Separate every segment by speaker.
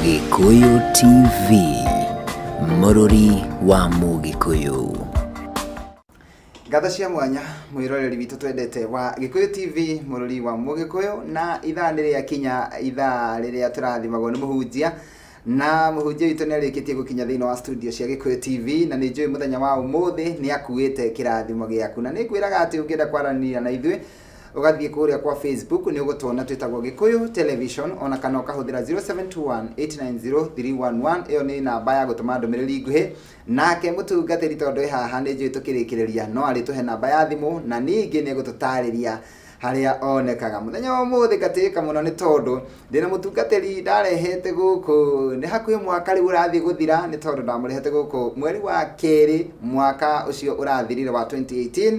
Speaker 1: Gĩkũyũ TV, mũrũri wa Mũgĩkũyũ.
Speaker 2: Ngatho cia mwanya mwĩroreri witũ twendete wa Gĩkũyũ TV mũrũri wa Mũgĩkũyũ na ithaa nĩ rĩa kinya ithaa rĩrĩa tũrathimagwo nĩ mũhunjia na mũhunjia witũ nĩ arĩkĩtie gũkinya thĩinĩ wa studio cia Gĩkũyũ TV na nĩ njũĩ mũthenya wa ũmũthĩ nĩ akuĩte kĩrathimo gĩaku na nĩ ngwĩraga atĩ ũngĩenda kwaranĩria na ithuĩ ũgathiĩ kũrĩa kwa facebook nĩ ũgũtuona twĩtagwo gĩkũyũ television ona kana ũkahũthĩra 0721890311 ĩyo nĩ namba ya gũtũma ndũmĩrĩri nguhĩ nake mũtungatĩri tondũ ĩ haha nĩ njũĩ tũkĩrĩkĩrĩria no arĩtũhe namba ya thimũ na ningĩ nĩ gũtũtarĩria harĩa onekaga mũthenya wa ũmũthĩ ngatĩĩka mũno nĩ tondũ ndĩna mũtungatĩri ndarehete gũkũ nĩ hakuhĩ mwaka rĩu ũrathiĩ gũthira nĩ tondũ ndamũrehete gũkũ mweri wa kerĩ mwaka ũcio ũrathirire wa 2018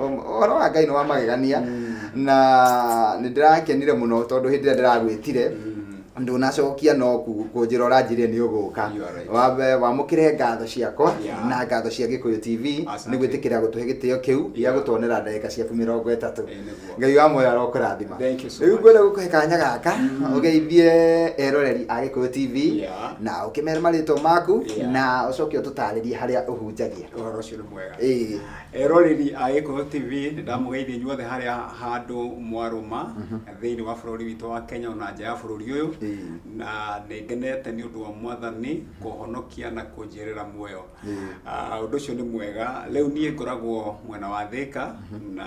Speaker 2: ũhoro wa ngai nĩ wa magegania na nĩ ndĩrakenire mũno tondũ hĩndĩ ĩrĩa ndĩragwĩtire ndunacokia no ku- kũnjĩra ũranjĩrire nĩ ũgũka You are right. Wambe- wamũkĩre ngatho ciakwa Yeah. na ngatho cia gĩkũyũ tv Asante. nĩ gwĩtĩkĩra gũtũhe gĩtĩo kĩu gĩa Yeah. gũtuonera ndagĩka ciaku mĩrongo ĩtatũ Eh, nĩguo. ngai wa moyo arokũrathima Thank you so rĩu much. ngwenda gũkũhe kanya gaka ũgeithie eroreri a gĩkũyũ tv Yeah. na ũkĩmere marĩtwa maku Yeah. na ũcoke ũtũtarĩrie harĩa ũhunjagia ũhoro ũcio nĩ mwega
Speaker 3: Ĩĩ. Eroreri a Gĩkũyũ TV nĩ ndamũgeithia inyuothe harĩa handũ mwarũma thĩinĩ wa bũrũri witũ wa Kenya ona nja ya bũrũri ũyũ na nĩ ngenete nĩ ũndũ wa mwathani kũhonokia na kũnjĩrĩra muoyo Ah, ũndũ ũcio nĩ mwega rĩu niĩ ngoragwo mwena wa Thĩka na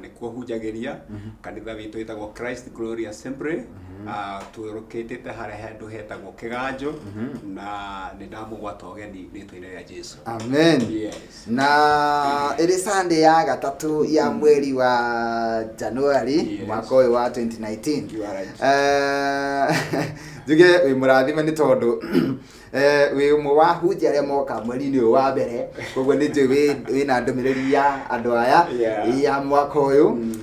Speaker 3: nĩkuo hunjagĩria kanitha witũ wĩtagwo Christ Glory Assembly Ah, tũrũkĩtĩte harĩa handũ hetagwo Kĩganjo na nĩ ndamũgwata ũgeni rĩtwa-inĩ rĩa Jesu amen Yes.
Speaker 2: na ĩrĩ sunday ya gatatũ ya mweri wa januari Yes. mwaka ũyũ wa 2019 You are right. Eh, njuge wĩ mũrathime nĩ tondũ eh, wĩ ũmwe wa hunjia arĩa moka mweri-inĩ ũyũ wa mbere koguo nĩ njũĩ wĩ- wĩna ndũmĩrĩri ya andũ aya Yeah. ya mwaka ũyũ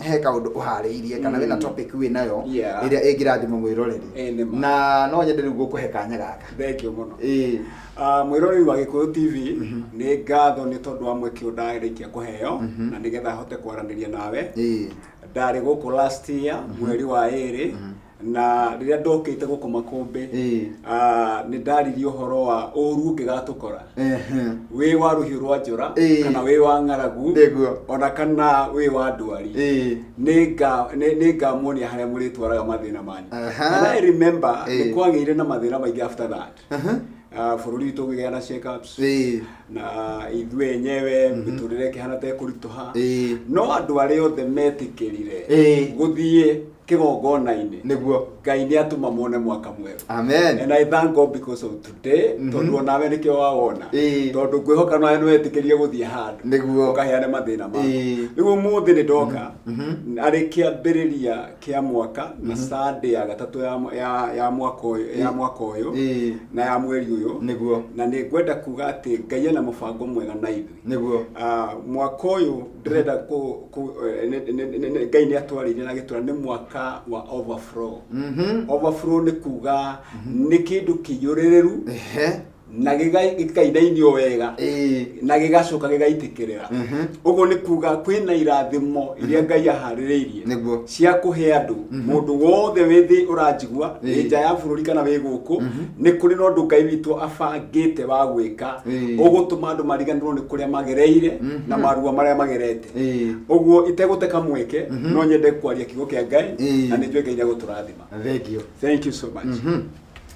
Speaker 2: he kaundu uharĩirie kana wĩna topic wĩ nayo Yeah. ĩrĩa ĩngĩrathima mwĩroreri Eh, nĩ ma. na no nyende rĩu gũkũhe kanya gaka thengio mũno Ĩĩ.
Speaker 3: Ah, mwĩroreri wa gĩkũyũ tv nĩ ngatho nĩ tondũ wa mweke ũyũ ndarĩkia kũheo na nĩgetha hote kwaranĩria nawe Ĩĩ. ndarĩ gũkũ last year mweri wa ĩrĩ na rĩrĩa ndokĩte gũkũ makũmbĩ Ĩĩ. ah, nĩ ndaririe ũhoro wa ũru ũngĩgatũkora Ehe. wĩ wa rũhiũ rwa njora Ĩĩ. kana wĩ wa ng'aragu Nĩguo. ona kana wĩ wa ndwari Ĩĩ. nĩ nga- nĩ- nĩ ngamuonia harĩa mũrĩtwaraga mathĩna manyu Aha. and I remember Ĩĩ. nĩ kwagĩire na mathĩna maingĩ after that Aha. Ah, bũrũri witũ ũkĩgĩa na check-ups Ĩĩ. na ithuĩ enyewe mĩtũrĩre ĩkĩhana ta ĩkũritũha Ĩĩ. no andũ arĩa othe metĩkĩrire Ĩĩ. gũthiĩ kĩgongona-inĩ Nĩguo. ngai nĩ atũma mone mwaka mwerũ Amen. and I thank God because of today tondũ onawe nĩkĩo wawona Ĩĩ. tondũ ngwĩhoka nawe nĩ wetĩkĩrire gũthiĩ handũ Nĩguo. ũkaheane mathĩna maku Ĩĩ. rĩu ũmũthĩ nĩ ndoka arĩ kĩambĩrĩria kĩa mwaka na sunday ya gatatũ ya, ya, ya mwaka ũyũ ya mwaka ũyũ Ĩĩ. na ya mweri ũyũ nĩguo na nĩ ngwenda kuga atĩ ngai ena mũbango mwega na ithuĩ nĩguo Ah, mwaka ũyũ ndĩrenda kũ- kũ- eh, nĩ- nĩ- nĩ- nĩ- ngai nĩ atwarĩire na gĩtũra nĩ mwaka wa overflow Mhm. overflow nĩ kuga nĩ kĩndũ kĩiyũrĩrĩru Ehe. na gĩga- gĩkainainio wega Ĩĩ. na gĩgacoka gĩgaitĩkĩrĩra Mhm. ũguo nĩ kuga kwĩna irathimo iria ngai aharĩrĩirie Nĩguo. cia kũhe andũ mũndũ wothe wĩ thĩ ũranjigua wĩ Ĩĩ. nja ya bũrũri kana wĩ gũkũ nĩ kũrĩ na ũndũ ngai witũ abangĩte wa gwĩka Ĩĩ. ũgũtũma andũ mariganĩrwo nĩ kũrĩa magereire na maruo marĩa magerete Ĩĩ. ũguo itegũteka mweke no nyende kwaria kiugo kĩa ngai Ĩĩ. na nĩ njũĩ ngai nĩ agũtũrathima Thengiũ. thank you so much Mhm.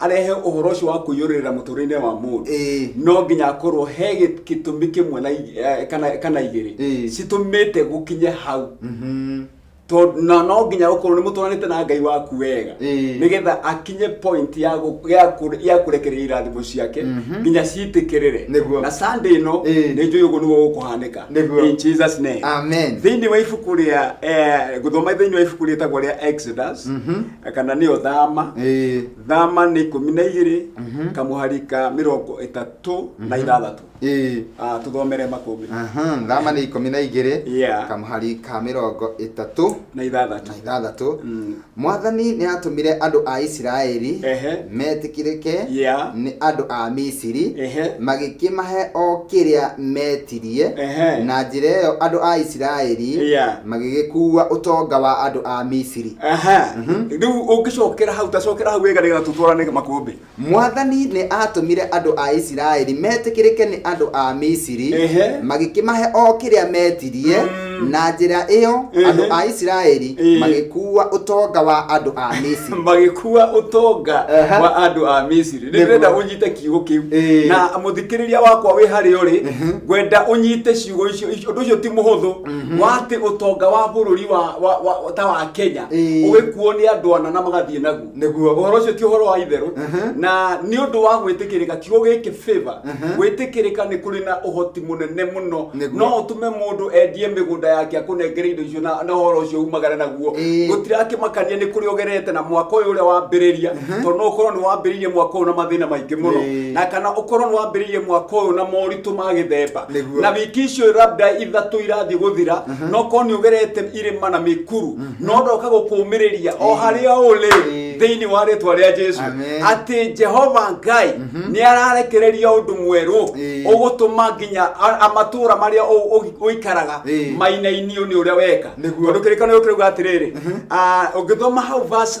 Speaker 3: arehe ũhoro ũcio wa kũiyũrĩrĩra mũtũrĩre wa mũndũ Ĩĩ. no nginya akorwo he gĩ- gĩtũmi kĩmwe na ig- eh, kana kana igĩrĩ Ĩĩ. citũmĩte gũkinye hau Mhm. To- na no nginya gũkorwo nĩ mũtwaranĩte na ngai waku wega Ĩĩ. nĩgetha akinye point ya gũ- ya kũ- ya kũrekereria irathimo ciake Mhm. nginya citĩkĩrĩre Nĩguo. na sunday ĩno Ĩĩ. nĩ njũĩ ũguo nĩguo gũkũhanĩka Nĩguo. in jesus name Amen. thĩinĩ wa
Speaker 2: ibuku rĩa
Speaker 3: eh, gũthoma thĩinĩ wa ibuku rĩtagwo rĩa exodus Mhm. kana nĩyo thama ĩĩ thama nĩ ikũmi na igĩrĩ Mhm. kamũhari ka mĩrongo ĩtatũ na ithathatũ ĩĩ Ah, tũthomere makũmbĩ Aha, thama nĩ ikũmi
Speaker 2: na igĩrĩ Yeah. kamũhari ka mĩrongo ĩtatũ na ithathatũ na
Speaker 3: ithathatũ Mm. mwathani
Speaker 2: nĩ atũmire andũ a isiraeli Ehe. metĩkĩrĩke Yeah. nĩ andũ a misiri Ehe. magĩkĩmahe o kĩrĩa metirie Ehe. na njĩra ĩyo andũ a isiraeli Yeah. magĩgĩkuua ũtonga wa andũ a misiri aha rä u
Speaker 3: å ngä cokera hau tacokera hau wega nä getha tå twarane makå mwathani nä
Speaker 2: aatũmire andũ a isiraeli metĩkĩrĩke nĩ andũ a misiri Ehe. magĩkĩmahe o kĩrĩa metirie Mm. na njĩra ĩyo Ehe. andũ a isiraeli Ĩĩ. magĩkuua ũtonga wa andũ a misiri magä kua å
Speaker 3: tonga Aha. wa andå a misiri nä Nĩguo. renda å nyite kiugo kä u Ĩĩ. na må thikä rä ria wakwa wä harä å rä Mhm. ngwenda å nyite ciugo icio å ndå å cio ti må hå thå Mhm. wate utonga wa bururi wa, wa, wa ta wa Kenya Ĩĩ. ugikuo ni andu ana na magathie naguo Nĩguo. uhoro ucio ti uhoro wa itheru Mhm. na ni undu wa gwitikirika ti ugiki favor Mhm. gwitikirika ni kuri na uhoti munene muno Nĩguo. no utume mundu endie migunda yake akunengere indo icio na na uhoro ucio umagare naguo Ĩĩ. gutirakimakania ni kuri ugerete na mwaka uyu uria wambiriria tondu no ukorwo ni wambiririe mwaka uyu na mathina maingi muno Ĩĩ. na kana ukorwo ni wambiririe mwaka uyu na moritu ma githemba Nĩguo. na wiki icio labda ithatũ irathiĩ gũthira no korwo nĩ ũgerete irĩma na mĩkuru no ndoka gũkũmĩrĩria o harĩa ũrĩ Ĩĩ. thĩinĩ wa rĩtwa rĩa jesu Amen. atĩ jehova ngai nĩ ararekereria ũndũ mwerũ Ĩĩ. ũgũtũma nginya a- a- matũũra marĩa ũ- ũ- ũikaraga Ĩĩ. mainainio nĩ ũrĩa weka Nĩguo. tondũ kĩrĩkanĩro kĩrauga atĩrĩrĩ ah, ũngĩthoma hau verse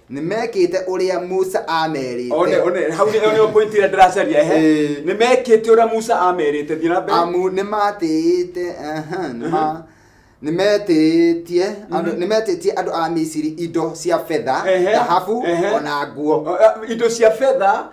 Speaker 2: nĩ mekĩte ũrĩa musa one amerĩte one hau nĩ one
Speaker 3: point ĩrĩa ndĩracaria ehe Ĩĩ. nĩ mekĩte ũrĩa musa amerĩte thiĩ na mbere amu nĩ matĩĩte
Speaker 2: aha, nĩ ma- nĩ metĩĩtie andũ- nĩ metĩĩtie andũ a misiri indo cia betha Ehe, thahabu ehe. ona nguo O- a- indo cia betha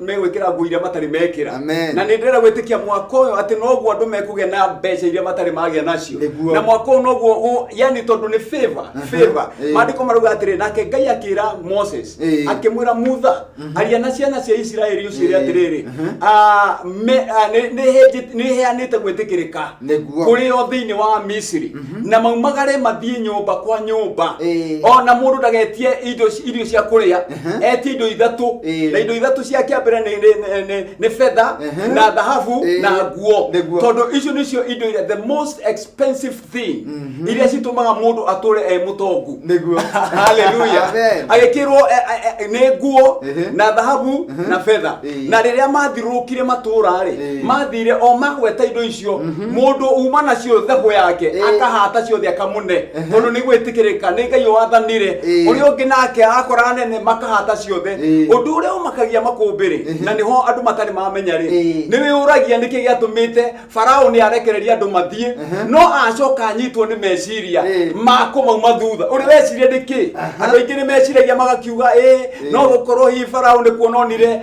Speaker 3: megwĩkĩra nguo iria matarĩ mekĩra Amen. na nĩ ndĩrenda gwĩtĩkia mwaka ũyũ atĩ noguo andũ mekũgĩa na mbeca iria matarĩ magĩa nacio Nĩguo. na mwaka ũyũ noguo ũ- yani tondũ nĩ favor favor Ĩĩ. maandĩko marauga atĩrĩ nake ngai akĩra moses Ĩĩ. akĩmwĩra mutha aria na ciana cia isiraeli ũciĩre Ĩĩ. atĩrĩrĩ Mhm. "Ah, me- ah, nĩ- nĩhĩnjĩ- nĩheanĩte gwĩtĩkĩrĩka Nĩguo. kũrĩ o thĩinĩ wa misiri na maumagare mathiĩ nyũmba kwa nyũmba Ĩĩ. ona mũndũ ndagetie indo irio cia kũrĩa Mhm. etie indo ithatũ Ĩĩ. na indo ithatũ cia kĩa mbere nĩ- nĩ- nĩ- nĩ- nĩ betha Mhm. na thahabu Ĩĩ. na nguo Nĩ nguo. tondũ icio nĩcio indo iria the most expensive thing iria citũmaga mũndũ atũre e mũtongu Nĩguo.
Speaker 2: haleluya Amen.
Speaker 3: agĩkĩrwo e- e- e- nĩ nguo Ehe. na thahabu na betha Ĩĩ. na rĩrĩa mathirũkire matũra-rĩ Ĩĩ. mathire o magweta indo icio cio mundu uma nacio thego yake Eh. akahata ciothe akamune tondu ni gwitikirika ni ngai wathanire Eh. uria ungi nake akora nene makahata ciothe Eh. undu uria umakagia makumbiri na niho andu matari mamenya ri Eh. ni wiuragia niki giatumite farao ni arekereria andu mathie no acoka anyitwo ni meciria Eh. makumauma thutha uri weciria niki andu aingi ni meciragia magakiuga ĩ no gukorwo hi farao ni kuononire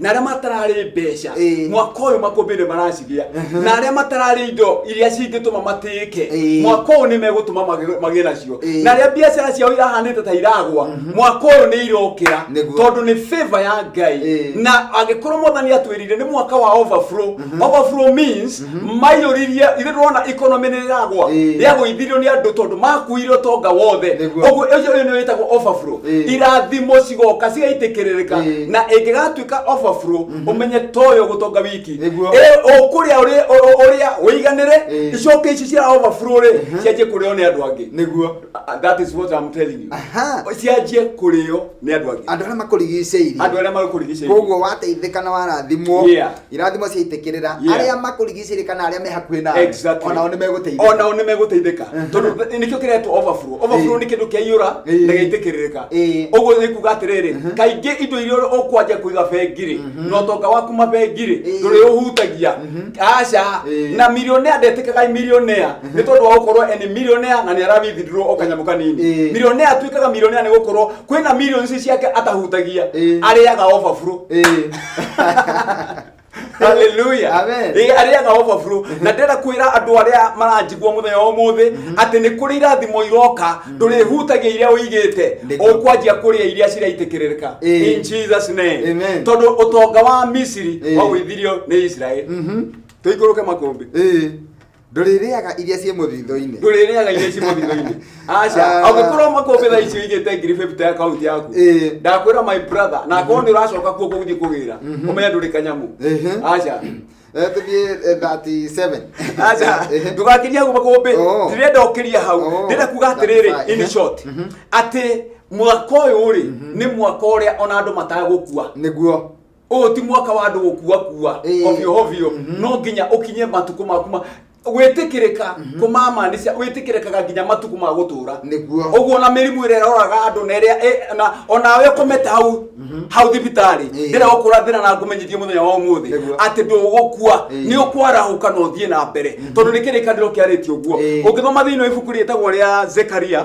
Speaker 3: na arĩa matararĩ mbeca Ĩĩ. mwaka ũyũ makũmbĩ nĩ maracigĩa na arĩa matararĩ indo iria cingĩtũma matĩĩke Ĩĩ. mwaka ũyũ nĩ megũtũma magĩ- magĩe nacio Ĩĩ. na arĩa biacara ciao irahanĩte ta iragwa mwaka ũyũ nĩ irokĩra Nĩguo. tondũ nĩ favor ya ngai Ĩĩ. na angĩkorwo mwathani atwĩrire nĩ mwaka wa overflow overflow means maiyũririe ithe ndona ikonomi nĩ rĩragwa Ĩĩ. rĩagũithirio nĩ andũ tondũ makuire ũtonga wothe Nĩguo. ũguo ũcio ũyũ nĩ wĩtagwo overflow Ĩĩ. irathimo cigoka cigaitĩkĩrĩrĩka Ĩĩ. na ĩngĩgatuĩka overflow ũmenye toyo gũtonga wiki Nĩguo. Ĩ, ũkũrĩa ũrĩ- ũ- ũ- ũrĩa ũiganĩre Ĩĩ. icoke ici cia overflow rĩ cianjie kũrĩo nĩ andũ angĩ nĩguo Uh, that is what I'm telling you Aha. cianjie kũrĩo nĩ andũ angĩ andå arä a makå rigicä
Speaker 2: andũ arĩa magũkũrigicĩirie koguo wateithä ka na warathimwo Yeah. irathimo ciaitĩkĩrĩra Yeah. arĩa makũrigicĩirie kana arĩa me hakuhĩ nawe Exactly. onao nĩ megũteithĩka
Speaker 3: onao nĩ megũteithĩka tondũ nĩkĩo kĩretwo overflow overflow nĩ kĩndũ kĩaiyũra Ĩĩ. na gĩitĩkĩrĩrĩka Ĩĩ. ũguo nĩ kuga atĩrĩrĩ kaingĩ indo iria ũkwanja kũiga bengirĩ na ũtonga waku mabengirĩ Ĩĩ. ndũrĩ ũhutagia aca Ĩĩ. na milionea ndetĩkaga milionea nĩ tondũ wa gũkorwo eni milionea na nĩ arawithindurwo o kanyamũ kanini Ĩĩ. milionea atuĩkaga milionea nĩ gũkorwo kwĩna milioni ici ciake atahutagia Ĩĩ. arĩaga overflow Ĩĩ. haleluya Amen. Ĩ, arĩaga overflow na ndĩra kwĩra andũ arĩa maranjigua mũthenya wa ũmũthĩ atĩ nĩ kũrĩ irathimo iroka ndũrĩhutagia iria ũigĩte Ndĩka. ũkwanjia kũrĩa iria ciraitĩkĩrĩka Ĩ. in jesus name Amen. tondũ ũtonga wa misiri Ĩ. wagwĩthirio nĩ israeli tũikũrũke makũmbĩ Ĩ. ndũrĩrĩaga
Speaker 2: iria ciĩ mũthithũ-inĩ ndũrĩrĩaga iria ciĩ mũthithũ-inĩ aca
Speaker 3: ah. angĩkorwo makũmbĩ thaa ici ũigĩte ngiri fifty ya kaunti yaku ndakwĩra my brother na akorwo mhm. nĩ ũracoka kuo gũgũthiĩ kũgĩra mhm. ũmenye ndũrĩ kanyamu aca eh,
Speaker 2: tũthiĩ 37 eh, aca
Speaker 3: ndũgakiria hau makũmbĩ oh. ndirenda ũkĩria hau oh. ndĩrenda kuga atĩrĩrĩ in uh-huh. short mhm. atĩ mwaka ũyũ rĩ nĩ mwaka ũrĩa ona andũ matagũkua nĩguo
Speaker 2: ũyũ ti mwaka
Speaker 3: wa andũ gũkua kua Ĩĩ. hovio hovio no nginya ũkinye matukũ maku ma gwĩtĩkĩrĩka kũmamaanisha wĩtĩkĩrĩkaga nginya matukũ ma gũtũra Nĩguo. ũguo na mĩrimũ ĩrĩa ĩroraga andũ na ĩrĩa ĩ- na onawe ũkomete hau hau thibitarĩ Ĩĩ. ndĩra ũkũra thĩna na ngũmenyithie mũthenya wa ũmũthĩ Nĩguo. atĩ ndũgũkua Ĩĩ. nĩ ũkwarahũka na ũthiĩ na mbere tondũ nĩ kĩrĩkanĩro kĩarĩtie ũguo Ĩĩ. ũngĩthoma thĩinĩ wa ibuku rĩtagwo rĩa zekaria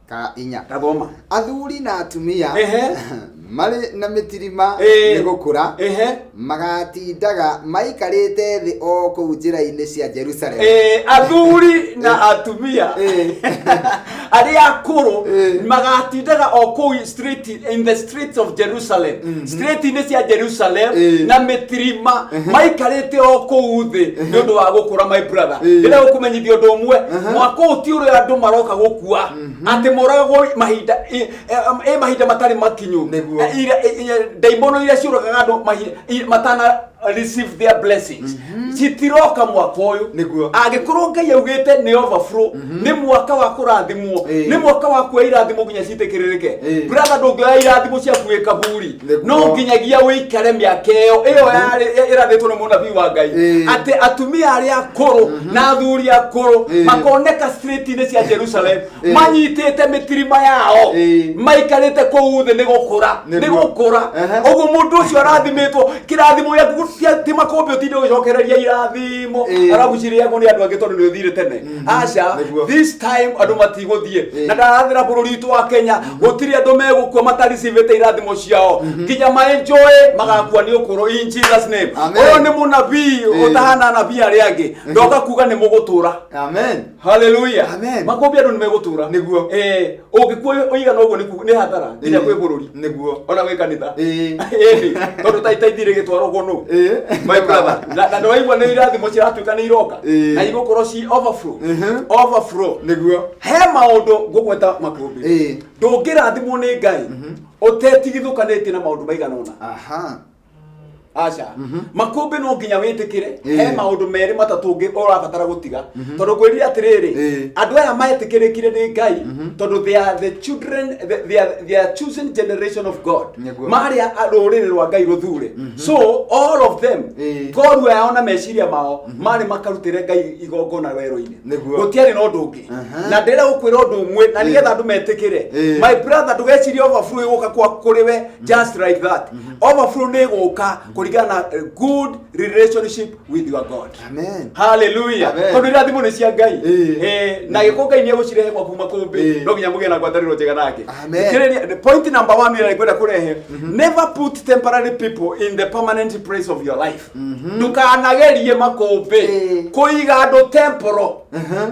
Speaker 2: ka inya Gathoma. athuri
Speaker 3: na
Speaker 2: atumia Ehe. marĩ na mĩtirima Ĩĩ. nĩ gũkũra
Speaker 3: Ehe.
Speaker 2: magatindaga maikarĩte thĩ o kũu njĩra-inĩ cia jerusalemu Eh, athuri
Speaker 3: na atumia Eh. arĩa akũrũ Eh. magatindaga o kũu street in the streets of jerusalem street-inĩ cia jerusalem Eh. na mĩtirima maikarĩte o kũu thĩ nĩ ũndũ wa gũkũra my brother Eh. rĩrĩa gũkũmenyithia ũndũ ũmwe mwaka ũyũ ti ũrĩa andũ maroka gũkua atĩ moragagwo mahinda ĩ- ĩ- ĩ mahinda matarĩ makinyu Nĩguo. Eh, ira- ĩ- ĩ- ndaimono iria ciũragaga andũ mahi- i- matana receive their blessings citiroka mwaka uyu Nĩguo. angikorwo ngai augite ni overflow ni mwaka wa kurathimwo Eh. ni mwaka wa kuoya irathimo nginya citikiririke Eh. brother ndungioya irathimo ciaku wi kaburi Nĩguo. no nginyagia wikare miaka iyo iyo yarĩ- ĩrathĩtwo nĩ mũnabii wa ngai Eh. atĩ atumia arĩa akũrũ na athuri akũrũ Eh. makoneka street-inĩ cia jerusalem Ĩĩ. manyitĩte mĩtirima yao Ĩĩ. maikarĩte kũu thĩ nĩ gũkũra Nĩ nĩ ruo. gũkũra Ehe. ũguo mũndũ ũcio arathimĩtwo kĩrathimo gĩaku cia- ti makũmbĩ ũtinde ũgĩcokereria irathimo Ĩĩ. arabu cirĩagwo nĩ andũ angĩ tondũ nĩ ũthire tene Mhm. aca Nĩguo. this time andũ matigũthiĩ Ĩĩ. na ndarathĩra bũrũri witũ wa kenya gũtirĩ andũ megũkua mataricivĩte irathimo ciao nginya maenjoe magakua nĩ ũkũrũ in jesus name Amen. ũyũ nĩ mũnabii Ĩĩ. ũtahana anabii arĩa angĩ ndoka kuga nĩ mũgũtũra amen
Speaker 2: haleluya Amen.
Speaker 3: makũmbĩ andũ nĩ megũtũra Nĩguo. Eh, ũngĩkuo ũigana ũguo nĩku- nĩ hathara nginya kwĩ bũrũri nĩguo ona gwĩ kanitha Ĩĩ. Ĩĩ, tondũ ta itaithĩ rĩgĩtwaragwo nũ Ĩĩ. my brother na na nĩwaigua nĩ irathimo ciratuĩka nĩ iroka Ĩĩ. na igũkorwo ci overflow Mhm. overflow nĩguo he maũndũ ngũgweta makũmbĩ Ĩĩ. ndũngĩrathimwo nĩ ngai ũtetigithũkanĩtie na maũndũ maigana ũna aha aca makũmbĩ no nginya wĩtĩkĩre Ĩĩ. he maũndũ merĩ matatũ ũngĩ ũrabatara gũtiga tondũ kwĩrire atĩrĩrĩ Ĩĩ. andũ aya metĩkĩrĩkire nĩ ngai tondũ they are the children the- they are, they are chosen generation of god Nĩguo. marĩ a- a- rũrĩrĩ rwa ngai rũthure so all of them Ĩĩ. ngorua yao na meciria mao marĩ makarutĩre ngai igongona werũ-inĩ Nĩguo. gũtiarĩ na ũndũ ũngĩ Aha. na ndĩrenda gũkwĩra ũndũ ũmwe na nĩgetha andũ metĩkĩre Ĩĩ. my brother ndũgecirie overflow ĩgũka kwa kũrĩ we just like that overflow nä gå ka kå ringana na a good relationship with your god Amen. haleluya Amen. tondå irathimo nä cia ngai Ĩĩ. Ĩĩ, na gä kå ngai nä egå cirehe gwaku Ĩĩ. makåmbä no nginya må gä na ngwatanä ro njega nake Amen. Thikĩrĩria, point number one ĩrĩa ngwenda kå rehe never put temporary people in the permanent place of your life ndũkanagerie makũmbĩ Ĩĩ. kũiga andũ temporal Mhm.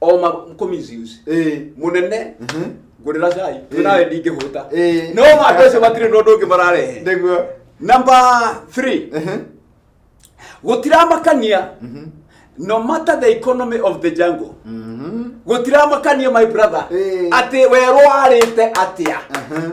Speaker 3: o ma commissions Eh. munene Mhm. ngurira cai we nawe ndingĩhũta Eh. no ma andũ acio matirĩ na ũndũ ũngĩ mararehe Nĩguo. number 3 Mhm. gũtiramakania Mhm. no matter the economy of the jungle Mhm. gũtiramakania my brother Eh. atĩ werwo warĩte atĩa Mhm.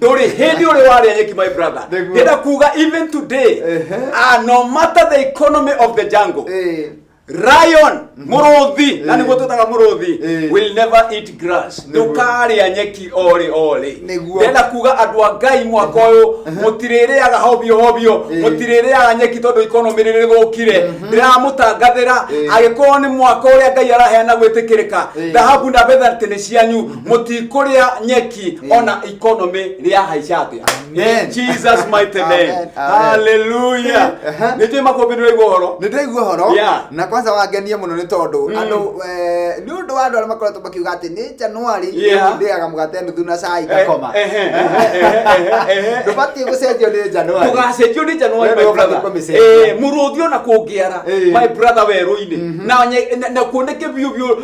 Speaker 3: ndũrĩ hĩndĩ ũrĩ warĩa nyeki my brother Nĩguo. ndĩna kuga
Speaker 2: even
Speaker 3: today Ehe. ah, no matter the economy of the jungle Eh, Ryan mũrũthi na Eh. nĩguo twĩtaga mũrũthi Eh. will never eat grass Nĩguo. ndũkarĩa nyeki orĩ orĩ Nĩguo. ndenda kuga
Speaker 2: andũ a
Speaker 3: ngai mwaka ũyũ mũtirĩrĩaga hobio hobio Eh. mũtirĩrĩaga nyeki tondũ ikonomĩ rĩrĩ rĩgũkire ndĩramũtangathĩra Eh. agĩkorwo nĩ mwaka ũrĩa ngai araheana gwĩtĩkĩrĩka Eh. thahabu na betha atĩ nĩ cianyu mũtikũrĩa nyeki ona economy rĩahaica atĩa Amen. In jesus mighty name Amen, amen. haleluya Aha. nĩ njũĩ makũmbĩ nĩ ũraigua ũhoro nä ndaigua horo Yeah.
Speaker 2: na kwanza wangenie
Speaker 3: må
Speaker 2: no nä tondå andå nä å ndå wa andå arä a makoretwo makiuga atä nä januari Yeah. ndäaga må gate nuthu na cai ngakoma Eh, eh, eh, eh, eh, eh. ndå batiä gå cenjio nä januari ndũgacenjio nĩ januari Wewe
Speaker 3: my ndio brother ũbatiĩ kũmĩcenjia. Eh, mũrũthi ona kũngĩara Eh. my brother werũ-inĩ na nye- na- na kuoneke biũ biũ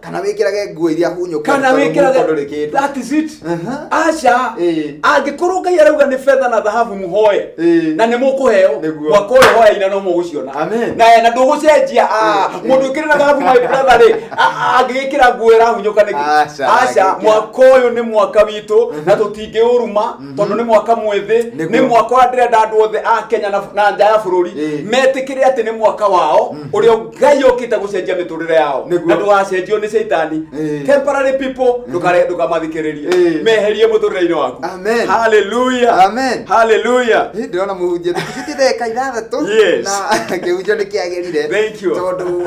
Speaker 3: kana wĩkĩrage nguo
Speaker 2: iria hunyũku kana tondũ mũhuko ndũrĩ
Speaker 3: wĩkĩrage kĩndũ that is it Aha. aca Ĩĩ. angĩkorwo ngai arauga nĩ betha na thahabu mũhoe Ĩĩ. na nĩ mũkũheo Nĩguo. mwaka ũyũ hoya ina no mũgũciona Amen. na eh, na ndũgũcenjia ah, Ĩĩ. mũndũ ũkĩrĩ na thahabu my brother rĩ ah, angĩgĩkĩra nguo ĩrahunyũka nĩkĩ Aca, aca angĩgĩkĩra. mwaka ũyũ nĩ mwaka witũ na tũtingĩũruma tondå nä mwaka mwethä Nĩguo. nä mwaka å rä a ndärenda andå othe a kenya na na nja ya bå rå ri Ĩĩ. metä kä re atä nä mwaka wao å rä a ngai å kä te gå cenjia mä tå rä re yao Nĩguo. na ndå gacenjio nä caitani Ĩĩ. temporary people ndũkare- ndũkamathikĩrĩrie Ĩĩ. meherie må tå rä re-inä waku Amen. haleluya
Speaker 2: Amen.
Speaker 3: haleluya
Speaker 2: Hii
Speaker 3: ndĩrona mũhunjia
Speaker 2: ndĩkĩbĩtie ndagĩka ithathatũ Yes. na kĩhunjio nĩ kĩagĩrire Thank you. tondũ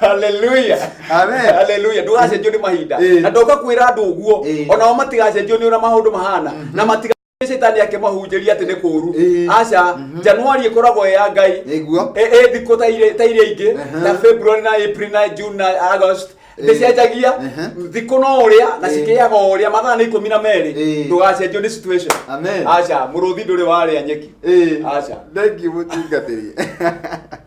Speaker 2: haleluya Amen. haleluya ndũgacenjio nĩ mahinda Ĩĩ. na ndoka kwĩra andũ ũguo Ĩĩ. onao matigacenjio nĩ ũrĩa maũndũ mahana na matiga citani akĩmahunjĩria atĩ nĩ kũũru Ĩĩ. aca januari ĩkoragwo ĩ ya ngai Nĩguo. Ĩ- ĩ thikũ ta irĩ- ta iria ingĩ Aha. ta february na april na june na august Ĩĩ. ndĩcenjagia Aha. thikũ no ũrĩa na Ĩĩ. cikĩaga o ũrĩa mathaa nĩ ikũmi na merĩ Ĩĩ. ndũgacenjio nĩ situation Amen. aca mũrũthi ndũrĩ warĩa nyeki Ĩĩ. Aca. Thank you, mũtungatĩri.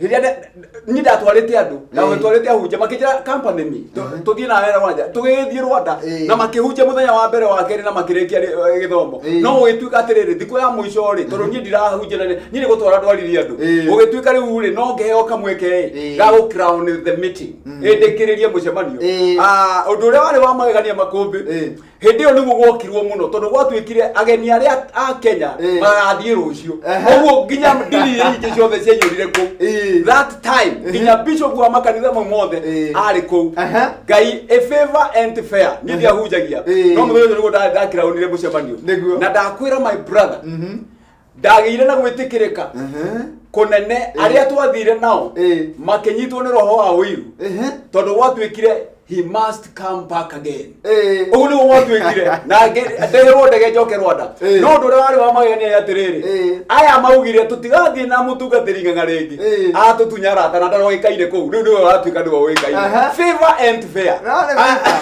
Speaker 3: rĩrĩa nda- niĩ ndatwarĩte andũ na Eh. twatwarĩte ahunjia makĩnjĩra company me Mhm. tũthiĩ na wera wanja tũgĩthiĩ rwanda Eh. na makĩhunjia mũthenya wa mbere wa kerĩ na makĩrĩkia rĩ- eh, gĩthomo Eh. no gũgĩtuĩka atĩrĩrĩ thikũ ya mũico rĩ tondũ niĩ ndirahunjia na nĩ- niĩ nĩ gũtwara ndwarire andũ Eh. gũgĩtuĩka rĩu rĩ no ngeheo kamweke Eh. ĩ ga gũ crown the meeting Mm. ĩndĩkĩrĩrie mũcemanio Eh. Ah, ũndũ ũrĩa warĩ wa magegania makũmbĩ Eh. hĩndĩ ĩyo nĩguo gwokirwo mũno tondũ gwatuĩkire ageni arĩa a kenya Eh. magathiĩ rũciũ Ehe. ũguo nginya ndini iria ingĩ ciothe ciaiyũrire kũu Eh. that time nginya bishop wa makanitha mau mothe Eh. arĩ kũu Ehe. ngai a favor and fair niĩ ndiahunjagia Eh. no mũthenya ũcio nĩguo nda- ndakĩraũnire mũcemanio Nĩguo. na ndakwĩra my brother Mhm. ndagĩire na gwĩtĩkĩrĩka Ehe. kũnene arĩa twathire nao Eh. makĩnyitwo nĩ roho wa ũiru Ehe. tondũ gwatuĩkire he must come back again Eh. ũguo nĩguo gwatuĩkire na ngĩ- ndeherwo ndege njoke rwanda Eh. no ũndũ ũrĩa warĩ wa magegania nĩ atĩrĩrĩ Eh. aya maugire tũtigathiĩ na mũtungatĩri ng'ang'a rĩngĩ Eh. atũtunya arata na ndarogĩkaire kũu rĩu nĩwe watuĩka nĩwe ũĩkaire Aha. Favor and Fair. Naona vita.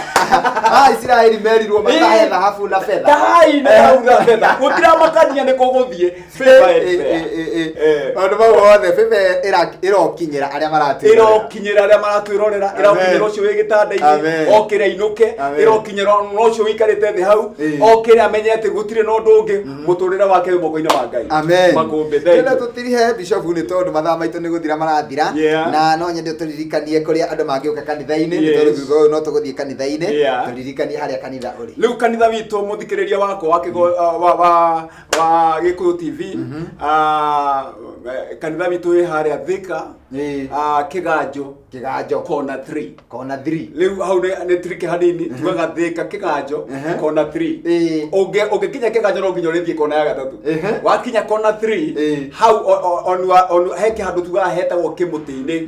Speaker 3: Ah, Isiraeli merirwo matahe thahabu na betha. Tahai na thahabu na betha. Gũtiramakania nĩ kũgũthiĩ. Favor and Eh, fair. eh, eh, eh. Eh. Maũndũ mau othe
Speaker 2: bebe ĩra-
Speaker 3: ĩrokinyĩra
Speaker 2: arĩa maratwĩrorera.
Speaker 3: ĩrokinyĩra
Speaker 2: arĩa
Speaker 3: maratwĩrorera
Speaker 2: Amen. ĩrokinyĩra
Speaker 3: ũcio wĩ
Speaker 2: gĩtanda-inĩ
Speaker 3: Amen. okĩre ainũke Amen. ĩrokinyĩra ona ũcio wĩikarĩte thĩ hau Eh. okĩre amenye atĩ gũtirĩ na ũndũ ũngĩ muturire wake wi moko-inĩ wa ngai amen makũmbĩ thengiũ.
Speaker 2: tena tutirihe bishop nĩ tondũ mathaa maitũ nĩ gũthira marathira Yeah. na no nyende tũririkanie kũrĩa andũ mangĩũka kanitha-inĩ nĩ Yes. tondũ thutha ũyũ no tũgũthiĩ kanitha-inĩ Yeah. tũririkanie harĩa kanitha ũrĩ rä u kanitha witå må
Speaker 3: thikä rä ria wakwa wa Kĩgo- uh, wa- wa- wa gä kå yå tv Ah, eh, kanitha witå wä harä a thä ka Ĩĩ. kä ganjå kĩganjo kona 3 kona 3 rĩu hau nĩ nĩ trick hanini tugaga thĩka kĩganjo Ehe. kona 3 Ĩĩ. Ũngĩ- ũngĩkinya kĩganjo no nginya ũrĩthiĩ kona ya gatatũ Ehe. wakinya kona 3 Ĩĩ. hau o- o- on your- on your- he kĩhandũ tugaga hetagwo kĩmũtĩ-inĩ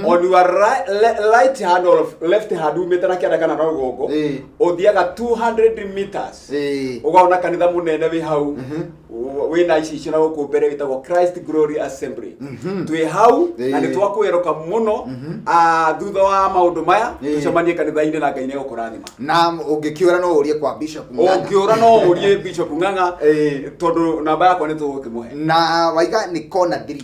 Speaker 3: on your ri- le- right hand or left hand umĩte na kĩanda kana na rũgongo Ĩĩ. ũthiaga 200 meters Ĩĩ. ukaona kanitha munene wi hau Mhm. Ũ- wina ici icio na guku mbere witagwo christ glory assembly Mhm. twĩ hau na Ĩĩ. nĩ twakwĩroka mũno Mhm. Ah, thutha wa maũndũ maya Ĩĩ. tũcemanie kanitha-inĩ na ngai nĩ gũkũrathima na ũngĩkĩũra
Speaker 2: no ũrie kwa bishop Ng'ang'a. ũngĩũra no ũrie
Speaker 3: bishop ng'ang'a Ĩĩ. tondũ namba yakwa nĩ tũgũkĩmũhe na waiga nĩ
Speaker 2: kona thiri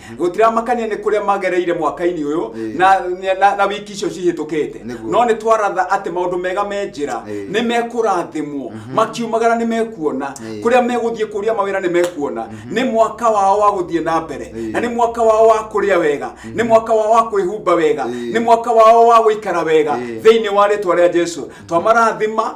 Speaker 3: gũtiramakania nĩ kũrĩa magereire mwaka-inĩ ũyũ Ĩĩ. na, na, na wiki icio cihĩtũkĩte Nĩguo. no nĩ twaratha atĩ maũndũ mega me njĩra Ĩĩ. nĩ mekũrathimwo makiumagara nĩ mekuona Ĩĩ. kũrĩa megũthiĩ kũria mawĩra nĩ mekuona nĩ mwaka wao wa gũthiĩ na mbere Ĩĩ. na nĩ mwaka wao wa kũrĩa wega nĩ mwaka wao wa kwĩhumba wega Ĩĩ. nĩ mwaka wao wa gũikara wega Ĩĩ. thĩinĩ wa rĩtwa rĩa jesu twamarathima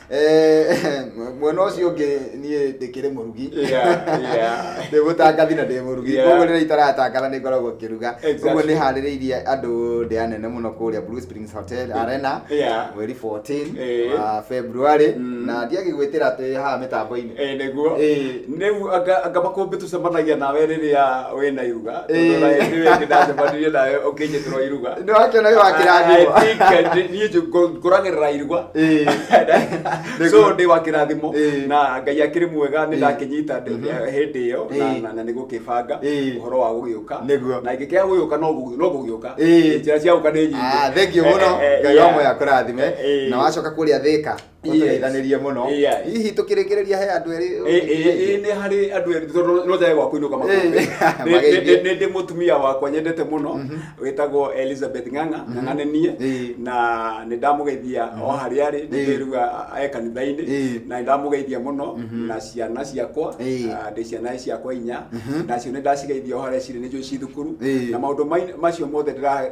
Speaker 2: Eh, mwena ũcio ũngĩ niĩ ndĩkĩrĩ mũrugi Yeah, yeah. ndĩ mũtangathi na ndĩ mũrugi Yeah. koguo rĩrĩa itaratangatha nĩ ngoragwo ngĩruga Exactly. koguo nĩ harĩrĩirie andũ ndĩa nene mũno kũrĩa Blue Springs Hotel Arena Yeah. mweri 14 Eh. wa February Mm. na ndiagĩgwĩtĩra twĩ haha mĩtambo-inĩ Eh,
Speaker 3: nĩguo Eh. nĩguo anga anga makũmbĩ tũcemanagia nawe rĩrĩa wĩ na iruga Eh. tondũ ona hĩndĩ ĩyo ĩngĩ ndacemanirie nawe ũkĩnjĩtĩrwo iruga Nĩ wakĩona wĩ wakĩrathimwo.
Speaker 2: I think, eh, nĩ- niĩ njũ-
Speaker 3: ngũ- ngũragĩrĩra iruga Eh. so Nĩguo. ndĩ wa kĩrathimo Eh. na ngai akĩrĩ mwega nĩ Eh. ndakĩnyita ndĩ- Mhm. eh, hĩndĩ ĩyo na- Eh. na- na nĩ gũkĩbanga Eh. ũhoro wa gũgĩũka Nĩguo. na ingĩkĩaga gũgĩũka no gũ- no gũgĩũka Eh. njĩra cia gũka nĩ nyingĩ Ah, thengiũ mũno Eh, eh,
Speaker 2: eh, ngai wa yeah. moya kũrathime Eh, eh. na wacoka kũrĩa thĩka tũteithanĩrie mũno Yeah. hihi tũkĩrĩkĩrĩria he andũ erĩ Ĩ- ĩ- ĩ- nĩ harĩ andũ erĩ
Speaker 3: tondũ no njage gwa kũinũka makũmbĩ Eh, Nĩ- mageithie. nĩ- nĩ ndĩ mũtumia wakwa nyendete mũno wĩtagwo elizabeth ng'ang'a ng'ang'a nĩ niĩ Eh. na nĩ ndamũgeithia o harĩa arĩ Eh. ndĩrĩruga e kanitha-inĩ Eh. na nĩ ndamũgeithia mũno na ciana ciakwa Eh. ah, ndĩ ciana ciakwa inya nacio nĩ ndacigeithia o harĩa cirĩ nĩ njũĩ ci thukuru Eh. na maũndũ mai- macio mothe ndĩra-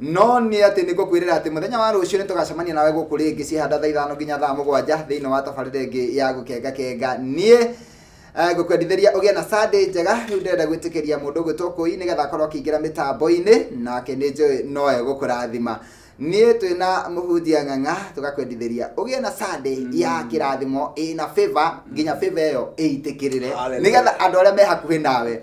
Speaker 2: No nĩ atĩ nĩ ngũkwĩrĩra atĩ mũthenya wa rũciũ nĩ tũgacemania nawe gũkũ rĩngĩ ciĩhanda thaa ithano nginya thaa mũgwanja thĩinĩ wa tabarĩra ĩngĩ ya gũkenga kenga niĩ eh, ngũkwendithĩria ũgĩe na Sunday njega rĩu ndĩrenda gwĩtĩkĩria mũndũ ũgwĩtwo kũi nĩgetha akorwo akĩingĩra mĩtambo-inĩ nake nĩ njũĩ noe gũkũrathima niĩ twĩ na mũhunjia ng'ang'a tũgakwendithĩria ũgĩe na Sunday ya kĩrathimo ĩna favor nginya favor ĩyo ĩitĩkĩrĩre Hallelujah. nĩgetha andũ arĩa me hakuhĩ nawe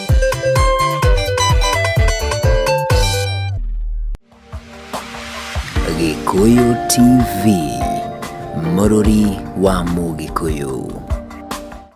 Speaker 1: Gĩkũyũ TV, mũrũri wa Mũgĩkũyũ.